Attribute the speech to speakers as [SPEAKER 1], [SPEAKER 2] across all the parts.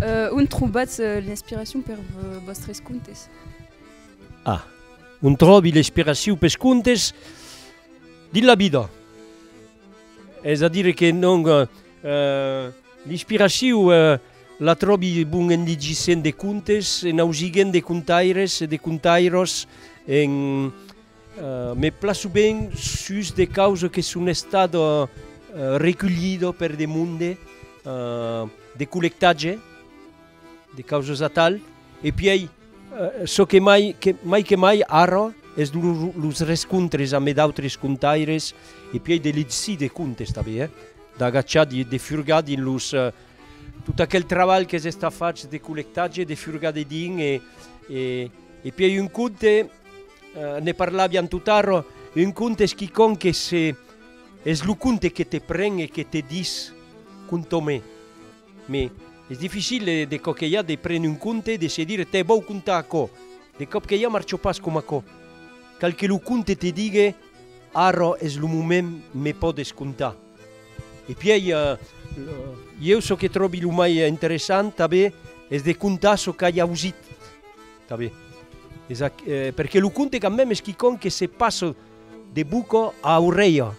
[SPEAKER 1] On trobatz l'inspiracion per vòstres contes? A.
[SPEAKER 2] On tròbi l'inspiracion pes contes dins la vida. Es a dire que non, l'inspiracion la tròbi bon en ligissent de contes, en ausigent de contaires e de contairòs en Me plaço ben sus de causes que son estat reculhido per de monde de collectatge, de causes atal, e pièi çò que mai mai que mai ara es los rescontres ame d'autres contaires e pièi de legir de contes tanben eh, d'agachar de furgar dins los tot aquel trabalh qu'es estat fach de collectatge, de furgar dedins e e pièi un conte Ne parlavian totaro, un conte es quicòm que se es lo conte que te pren e que te dis conta'me. Me es dificil de còp que ja de prene un conte e de se dire te vòu contar aquò, de còp que ja marcho pas coma aquò. Cal que lo conte te digue ara es lo moment me pòdes contar. E pièi ieu çò que tròbi lo mai interessant tanben es de contar çò qu'ai ausit Tà be. Es ac. Perque lo conte quand meme es quicòm que se passa de boca a orelha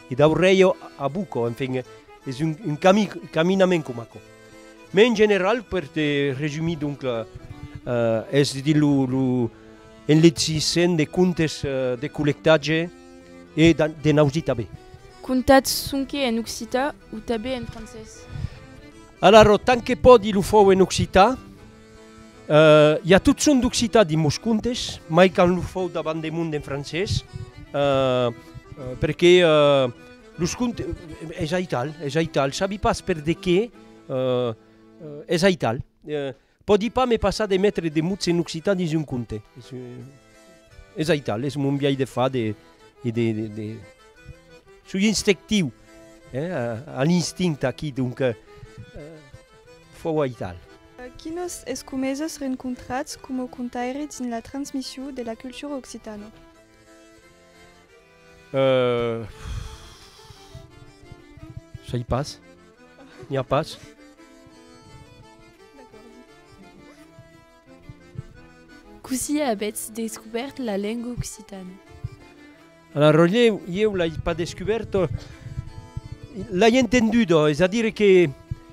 [SPEAKER 2] e d'aurelha a boca, enfin es un un cami caminament coma aquò. Mès en general per te resumir donc es dins lo lo en lecissen de contes de collectatge e dan de nausi tà be. Contats
[SPEAKER 1] sonque en occitan o tà be en francés? Alara,
[SPEAKER 2] tant que pòdi lo fau en occitan. I a tot son d'occitan dins mos contes, mai quand lo fau davant de mon en francés, perque los contes, es aital, es aital, sabi pas per de qué, es aital. Pòdi pas me passar de metre de mots en occitan dins un conte, es aital, es mon biais de far, de, de, soi instectiu, a l'instinct aquí, donc. Fuòu aital. Quinos
[SPEAKER 3] escumesses rencontrats coma contaire dins la transmission de la cultura occitana?
[SPEAKER 2] Sai pas. N'i a pas.
[SPEAKER 1] Cossí avètz descubèrt la lenga occitana?
[SPEAKER 2] Alara Roger, ieu l'ai pas descubèrto, l'ai entendudo, es a dire que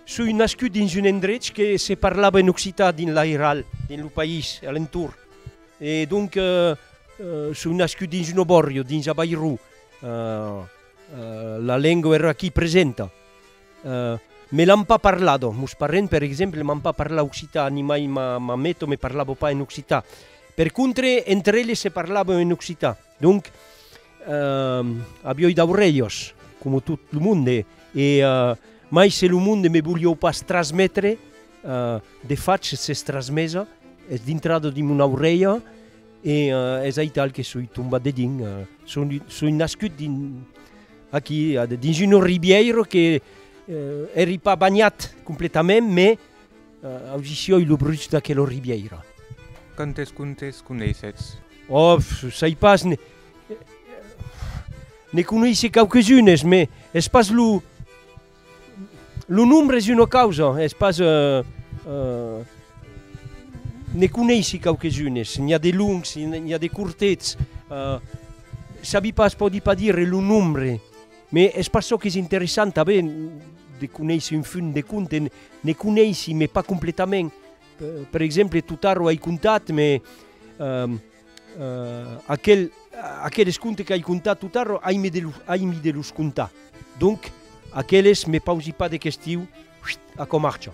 [SPEAKER 2] soi nascut dins un endrech que se parlava en occitan dins l'Airal, dins lo país, a l'entorn, e donc soi nascut dins un obòrrio, dins a Bairro, la lenga èra aquí presenta, me l'an pas parlado, mos parents per exemple m'an pas parlat occitan, ni mai ma mameto me parlava pas en occitan, per contre entre eles se parlavan en occitan. Donc, a bioi d'aurelhos, coma tot lo monde, e mai se lo monde me voliou pas trasmetre, de fach s'es trasmesa, es dintrada dins mon aurelha, e es aital que soi tombat dedins, soi nascut dins aquí, dins una ribièira que èri pas banhat completament, mais Audicioi lo bruch d'aquelo ribièira. Quantes
[SPEAKER 4] contes coneissetz? Òf,
[SPEAKER 2] sai pas, ne. Ne coneisse quauques unes, me es pas lo. Lo nombre es una causa, es pas. Ne coneissi quauques unes, n'i a de longs, n'i a de cortets, sabi pas, pòdi pas dire lo nombre. Me es pas çò qu'es interessant tanben de conéisser un funt de conte, ne conéissi me pas completament, per exemple tot arro ai contat me aquel aqueles conte qu'ai contat tot arro ai me de los ai mi de los contar donc aqueles me pausi pas de questiu a cò marcha.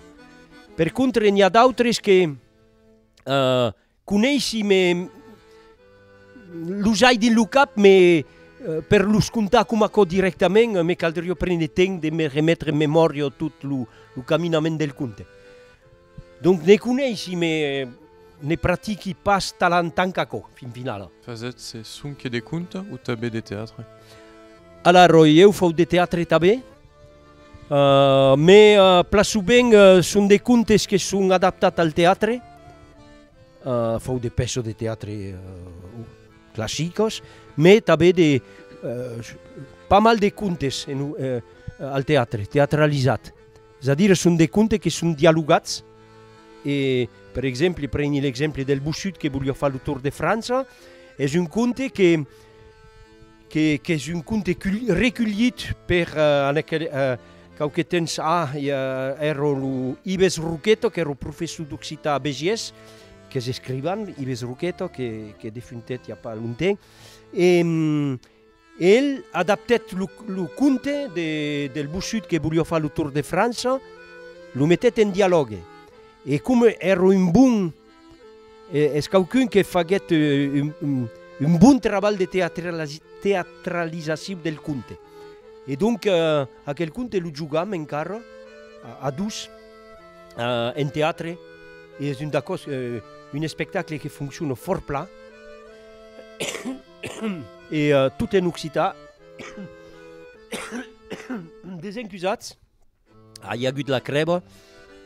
[SPEAKER 2] Per contre n'i a d'autres que Coneissi me los ai dins lo cap me per los contar coma aquò dirèctament me caldrió prene temps de me remetre en memòria tot lo caminament del conte. Donc ne coneissi me ne pratiqui pas talant tant qu'aquò fin finala. Fasètz se sonque
[SPEAKER 5] de conte o tanben de teatre? Alara,
[SPEAKER 2] oi, eu fau de teatre tanben. Me plaço ben, son de contes que son adaptats al teatre, fau de pèças de teatre classicas, me tanben de pas mal de contes al teatre, teatralizats, es a dire son de contes que son dialogats e per exemple preni l'exemple del Bossut que voliá far lo Tour de França, es un conte que qu'es un conte reculhit per quauque temps a, ère lo Ives Roqueto, qu'ère lo professor d'occitan a Besiés, qu'es escrivan, Ives Roqueto, que defuntèt i a pas longtemps, e el adaptèt lo conte del Bossut que voliá far lo tour de França, lo metèt en dialògue, e coma ère un bon Es quauqu'un que faguèt un bon trabalh de teatralizacion del conte. E donc aquel conte lo jogam encara a dos en teatre e es un d'aquò's un espectacle que foncciona fòrt plan e tot en occitan. Desencusatz. A i agut la crèba.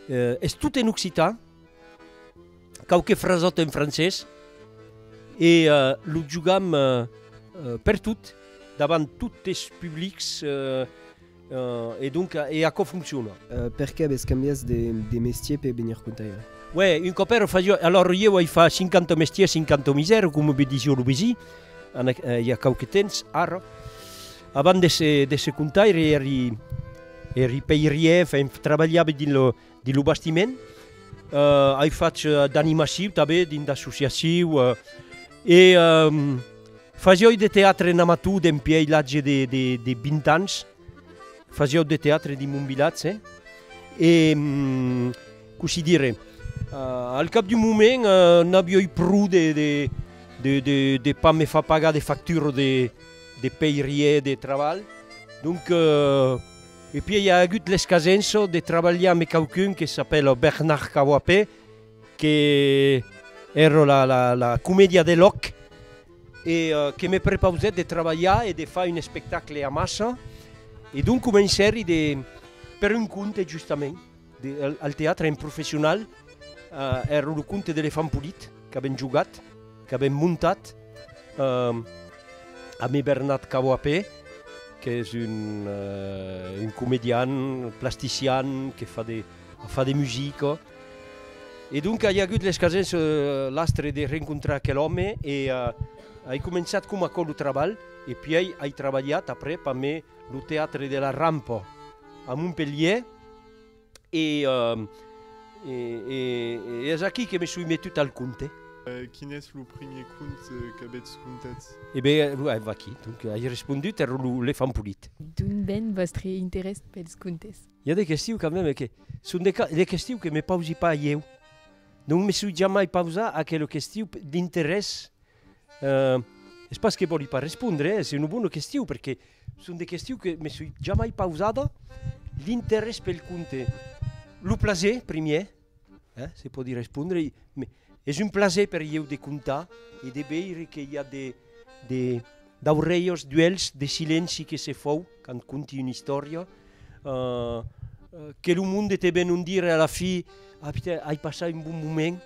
[SPEAKER 2] Es tot en occitan, quauque frasòt en francés e lo jogam per tot, davant tot es publics e donc e aquò foncciona. Per qué avètz
[SPEAKER 6] cambiat de mestier per venir contaire? Uè, un còp èra
[SPEAKER 2] fasiò, alòr ieu ai far 50 mestiers, 50 misères, coma me disió lo vesin, i a quauque temps, ara. Avant de se de se contaire eri eri peirier, enfin trabalhabe dins lo dins lo bastiment. Euh ai fach d'animaciu tanben dins d'associaciu e fasioi de teatre en amator dempiei l'atge de de de 20 ans. Fasiau de teatre dins mon vilatge e cossí dire al cap d'un moment n'avioi pro de de de de de pas me far pagar de factura de de pèirier de trabalh donc e pièi i a agut l'escasenço de trabalhar me quauqu'un que s'apèla Bernard Cawape que ère la la la comedia de lòc e que me prepausèt de trabalhar e de far un espectacle amassa e donc comencèri de per un compte justament Al teatre en professional èra lo conte d'Elefant Polit qu'avèm jogat, qu'avèm montat amé Bernat Caboapé, qu'es un comedian, plastician, que fa de fa de musica. E donca i agut l'escasens l'astre de rencontrar aquel òme e ai començat coma aquò lo trabalh e puèi ai trabalhat après pamé lo teatre de la Rampa a Montpelhièr, E es aquí que me soi metut al conte. Quin es lo
[SPEAKER 5] primier conte qu'avètz contat? E ben, ava
[SPEAKER 2] aquí, donc ai respondut, èra lo Lefant Polit. D'ont ven vòstre
[SPEAKER 1] interès pels contes? I a de questiu quand
[SPEAKER 2] meme que son de questiu que me pausi pas ieu. Non me soi jamai pausa aquela questiu d'interès Es pas que vòli pas respondre, es una bona question, perque son de questions que me soi jamai pausada, l'interès pel conte, lo plaser primièr, se pòdi respondre, es un plaser per ieu de contar e de veire que i a de de d'aurelhos d'uelhs de silenci que se fau quand conti una istòria, que lo monde te ven un dire a la fi, ai passat un bon moment,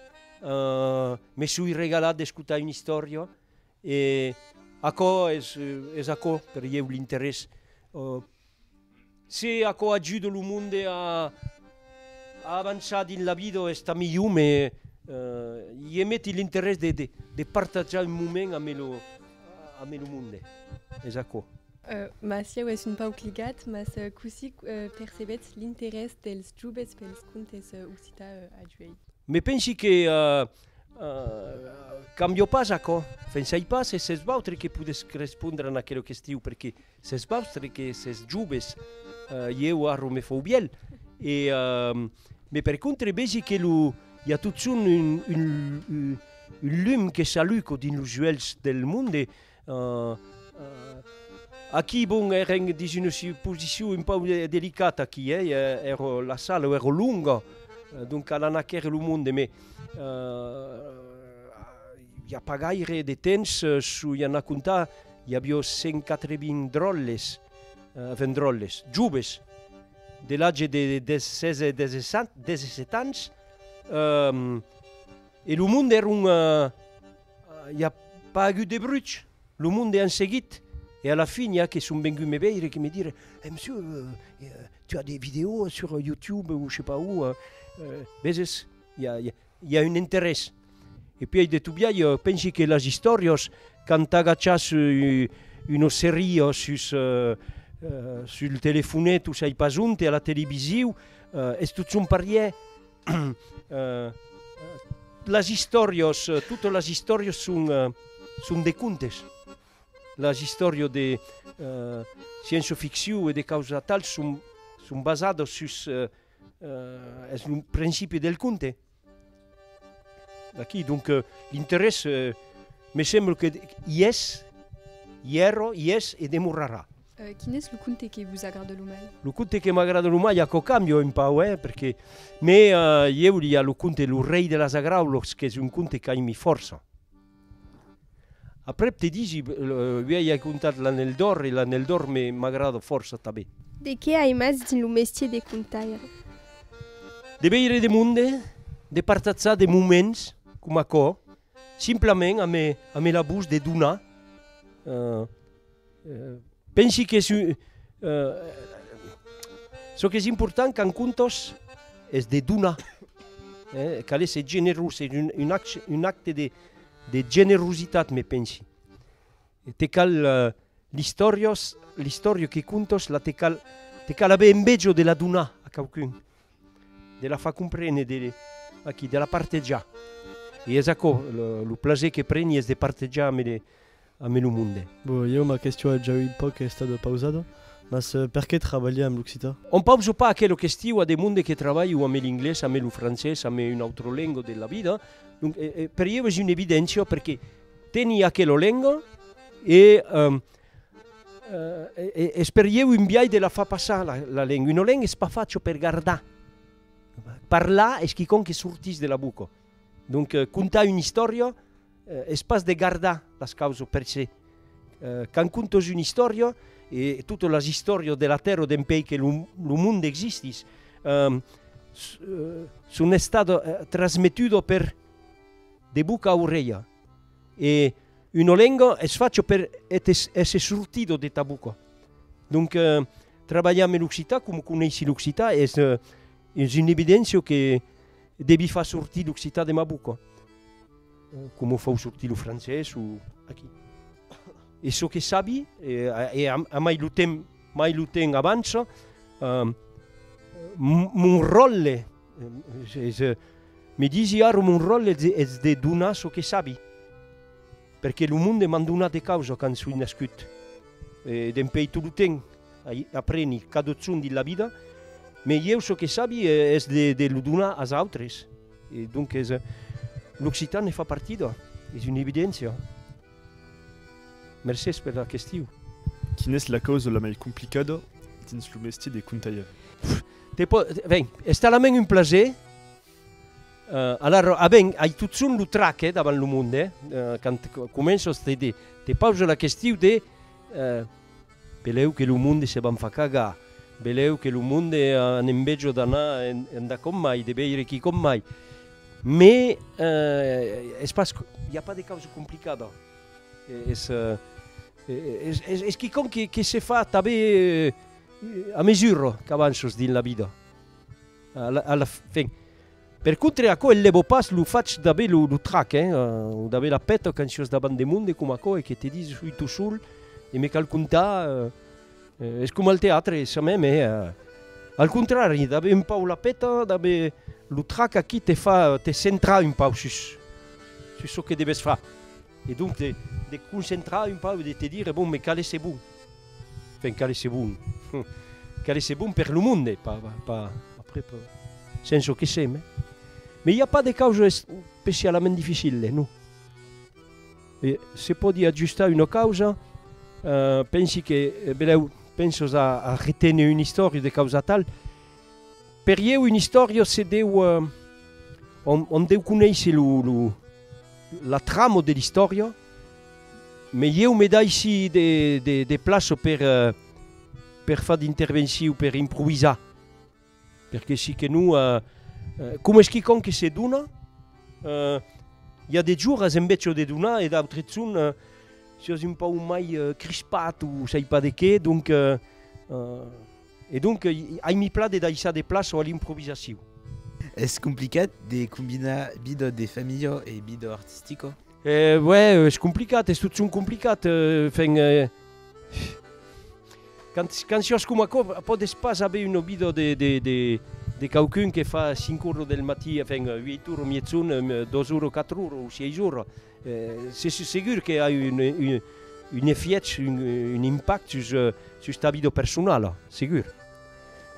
[SPEAKER 2] Me soi regalat d'escotar una istòria e aquò es aquò per ieu l'interés. Se aquò ajuda lo monde a avançar dins la vida es tant milhor me ieu meti l'interés de partatjar un moment amé lo monde. Es aquò. Mas ieu
[SPEAKER 3] es un pauc ligat, mas cossí percebetz l'interès dels jubes pels contes occità a Juèi? Me pensi que
[SPEAKER 2] cambio pas aquò, pensai pas e s'es vautre que podetz respondre en aquela question perque s'es vautre que s'es jubes, ieu arro me fau vièlh e me per contre vesi que lo i a totson un lum que s'alluco dins los uèlhs del monde Ahh aquí bon èren dins una posicion un pauc delicata aquí eh èra la sala èra longa donc a l'annaquèr lo monde me i a pas gaire de temps soi anat comptar i aviá 180 dròlles enfin dròlles joves de l'atge de 16 e 17 ans e lo monde èra I a pas agut de bruch, lo monde an seguit e a la fin i a que son vengut me veire que me dire eh monsieur tu as des vidéos sur youtube ou je sais pas où veses i a un interès e pui ai deto biai pensi que las istòrias quand t'agachas una seria sus sul telefonet o sai pas onte a la televisiu es tot son parièr Las istòrias, totas las istòrias son, son de contes. Las istòrias de sciència ficcion e de causa tal son, son basadas sus, es lo principi del conte. D'aquí donc l'interès me sembla que i es, i èra, i es e demorarà. Quin es lo conte
[SPEAKER 3] que vos agrada lo mai? Lo conte que m'agrada lo
[SPEAKER 2] mai, aquò cambia un pauc, eh, perque, me, ieu li a lo conte Lo rei de las agraulocs, qu'es un conte qu'aimi fòrça. Aprèp te disi, uèi ai contat L'anèl d'òr e L'anèl d'òr me, m'agrada fòrça tanben. De qué aimatz
[SPEAKER 7] dins lo mestier de contaire?
[SPEAKER 2] De veire de monde, de partatzar de moments coma aquò, simplament ame, ame la bus de donar, eh, Pensi que çò qu'es important qu'un contos es de donar, cal èsser generós, es un acte de generositat me pensi. Te cal l'istòria que contos la te cal aver enveja de la donar a quauqu'un. de la far comprene de aquí de la partejar e es aquò lo plaser que preni es de partejar ame de ame lo monde. Bon, ieu ma question
[SPEAKER 8] es ja un pauc estada pausada, mas perqué trabalhar amb l'occitan? On pausa pas aquela
[SPEAKER 2] question a de monde que trabalhu ame l'inglés, ame lo francés, ame una autra lenga de la vida, donc per ieu es una evidencia perqué teni aquela lenga e Es per ieu un biais de la far passar la lenga. Una lenga es pas facha per gardar. Parlar es quicòm que sortís de la boca. Donc contar una istòria es pas de gardar las causas per se. Quand contas una istòria, e totas las istòrias de la tèrra o dempuèi que lo monde existís, son estadas trasmetudas de boca a orelha. E uno lengo es facho per èsser sortido de ta boca. Donc trabalhar me l'occitan, com coneissi l'occitan, es un evidencio que devi far sortir l'occitan de ma boca. Como fau sortir lo francés o aquí. E çò que sabi, e a mai lo temps, mai lo temps avança, mon ròtle, Me disi ara mon ròl es de donar çò que sabi, perque lo monde m'an donat de causa quand soi nascut e dempèi tot lo temps ai apreni cadotson dins la vida, me ieu çò que sabi es de lo donar as autres e donc es l'occitan ne fa partida, es una evidéncia. Mercés per la question. Quina es la
[SPEAKER 5] causa la mai complicada dins lo mestier de contalhaire? Te po,
[SPEAKER 2] ben, es talament un plaser. Alara, a ben, ai totson lo trac, eh, davant lo monde, eh, quand començas te, te pausa la question de, eh, Belèu que lo monde se van far cagar, belèu que lo monde an enveja d'anar enda com mai, de veire qui com mai. Me es pas, i a pas de causa complicada, es es quicòm que se fa tanbe a mesura qu'avanças dins la vida. A la fin. Per contre, aquò enlèvo pas lo fach d'aver lo trac, hein, o d'aver la peta quand sios davant de monde coma aquò e que te dis ui tu sol e me cal contar, es coma al teatre, es ça meme, eh? Al contrari, d'aver un pauc la peta, d'aver lo trac aquí te fa te centrar un pauc sus, sus çò que deves far. E donc de de concentrar un pauc, de te dire, bon, me calesse bon. Enfin, calesse bon, calesse bon per lo monde, pas, pas, après, pas, sens çò que se, mais, mais i a pas de causa especialament dificile, non. E se pòdi ajustar una causa, eh, pensi que, belèu, pensos a a reténer un istòria de causa tal, per ieu un istòria se deu, on, on deu conéisser lo, lo, La trama de l'istòria, me ieu me daissi de plaça per per far d'intervenciu, per improvisar, perque si que non, coma es quicòm que se dona, i a de joras en vètz çò de donar e d'autres son siás un pauc mai crispat o sai pas de qué, donc E donc, ai mi pla de daissar de plaça a l'improvisacion. Es
[SPEAKER 9] complicat de combinar vida de familha e vida artistica? Uè,
[SPEAKER 2] es complicat, es totjorn complicat. Enfin, quand siás coma aquò, pòdes pas aver una vida de quauqu'un que fa cinc ora del matí, enfin, uèit ora, miètzon, dos ora, quatre ora o sièis ora. Se sus segur que a un efièch, un impact sus ta vida personala, segur.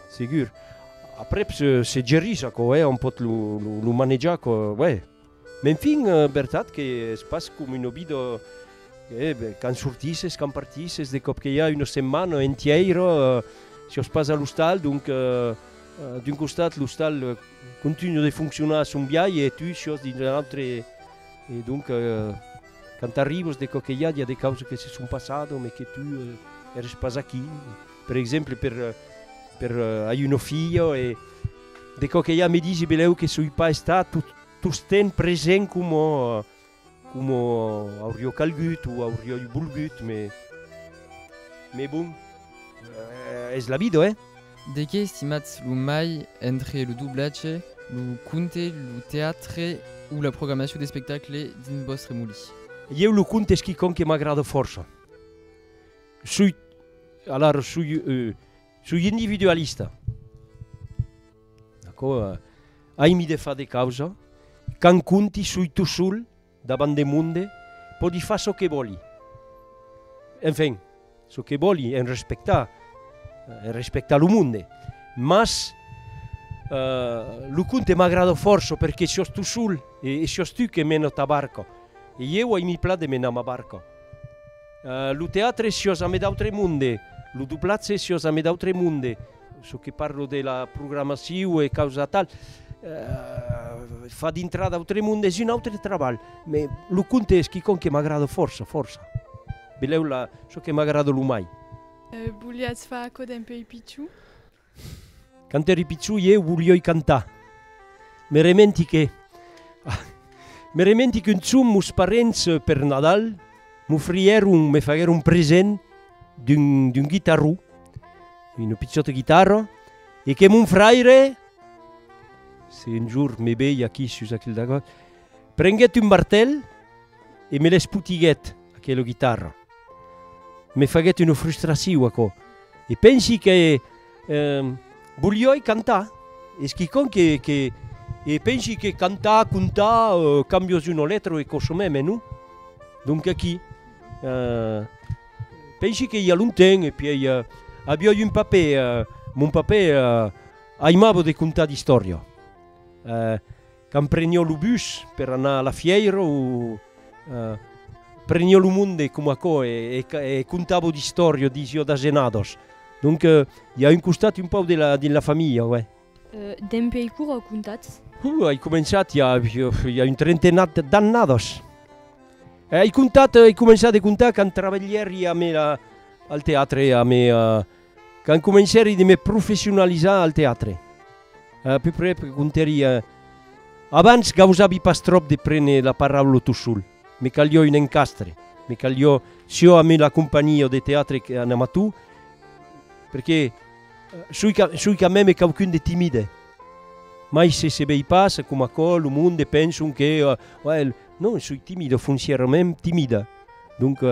[SPEAKER 2] Segur. Aprèp se gerís aquò, òm pòt lo manejar aquò, uèi. M'enfin, vertat qu'es pas coma una vida, quand sortisses, quand partisses, de còp que i a una setmana entièira sus pas a l'ostal, donc d'un costat l'ostal continua de foncionar a son biais e tu sus dins un autre. E donc quand t'arribes de quò que i a di a de causas que se son passado mais que tu eres pas aquí per exemple per per ai una filha e de quò que i a me disi belèu que soi pas estat tot tostemp present coma coma aurió calgut o aurioi volgut mais mais bon es la vida eh De qué estimatz
[SPEAKER 10] lo mai entre lo doblatge, lo conte, lo teatre o la programacion d'espectacle dins vòstre molí? Ieu lo conte
[SPEAKER 2] es quicòm que m'agrada fòrça. Soi, alara soi, soi individualista, d'acò, aimi de far de causa, quand conti soi tot sol, Davant de monde, pòdi far çò que vòli. Enfin, çò que vòli, en respectar, en respectar lo monde. Mas, lo conte m'agrada fòrça perque siòs tu sol e siòs tu que mena ta barca. E ieu ai mi plan de menar ma barca. Lo teatre siòs ame d'autre monde, lo doblatge siòs ame d'autre monde. Çò que parlo de la programacion e causa tal, fa dintrar d'autre monde, es un autre trabalh, me lo conte es quicòm que m'agrada fòrça, fòrça. Belèu la, çò que m'agrada lo mai. Voliatz
[SPEAKER 1] far aquò dempèi pichon?
[SPEAKER 2] Quand èri pichon ieu volioi cantar. Me rementi que, me rementi qu'un chum mos parents per Nadal m'ofrièron, me faguèron present d'un, d'un guitarró. Una pichòta guitarra e que mon fraire, se un jorn me vei aquí sus aquel dagòt, prenguèt un martèl e me l'espotiguèt, aquela guitarra. Me faguèt una frustraciu aquò e pensi que volioi cantar, es quicòm que que e pensi que cantar, contar, cambios d'una letra e còsson mai, mai non? Donc aquí Pensi que i a longtemps e pièi aviá un papè, mon papè aimava de contar d'istòria. Quand prenió lo bus per anar a la fièira o prenió lo monde coma aquò e contava d'istòria, disiá d'asenadors. Donc i a un costat un pauc de la familha, uèi. Dempèi
[SPEAKER 11] quora comptatz? Huh, ai començat
[SPEAKER 2] i a, i a un trentenat d'annadas. E ai comptat, ai començat de comptar quand travelhèri a me la, al teatre, a me, quand comencèri de me professionalizar al teatre. A peu près, pe comptèri, abans gausavi pas tròp de prene la paraula tot sol, me calió un encastre, me calió siò a me la companhia de teatre en amató, perqué, Soi qu'a, soi qu'a mème quauqu'un de timide. Mai se se vei pas, coma aquò, lo monde, penson que, uè, el, non, soi timide, foncièrament timide. Donc,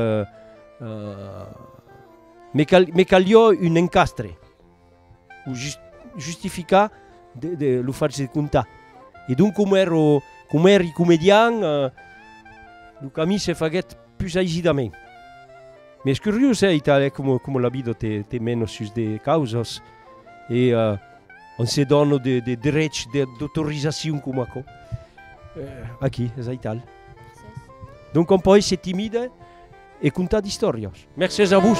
[SPEAKER 2] me cal, me calió un encastre, o just, justificar de, de lo fach de contar. E donc, coma èro, coma èri comedian, lo camins se faguèt, Pus aigidament. M'es curiós hè italè como como la vida te te mena sus de causas e on se dona de de drechs de d'autorizacion coma aquò. Aquí es a Ital. Donc on pò èsser timide e contar d'istòrias. Mercés a vos.